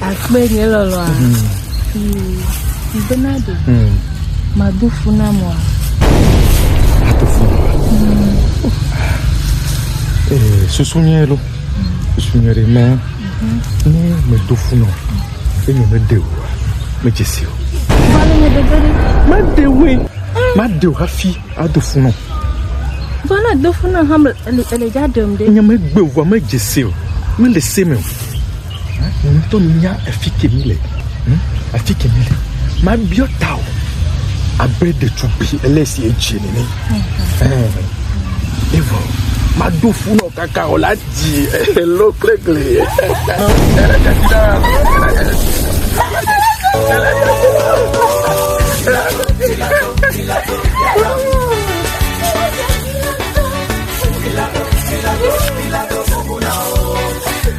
Akpe nye lɔlɔa. Mbe na ɖe. Mado fu na mɔa. Ato fu na mɔa. Ee, susu nyɛ ɖo. Susu nyɛ ɖe mɛ. Ne medo fu na o, enye mede o wa, medze si o. Vale me dede ɖe. Mede oe. Made o hafi ado fu na o. Vale do fu na ha ele ele dza ɖem ɖe. Nye megbe o wa, medze si o. Mele se me o. Hm? Wò ŋutɔ menya afi ke mi le. Hm? Afi ke mi le. Mabiɔ ta o. Abe ɖetugbui ele si edze nene. Hm. Evɔ. Maɖo fu nɔ kaka o la dzi elo klegble.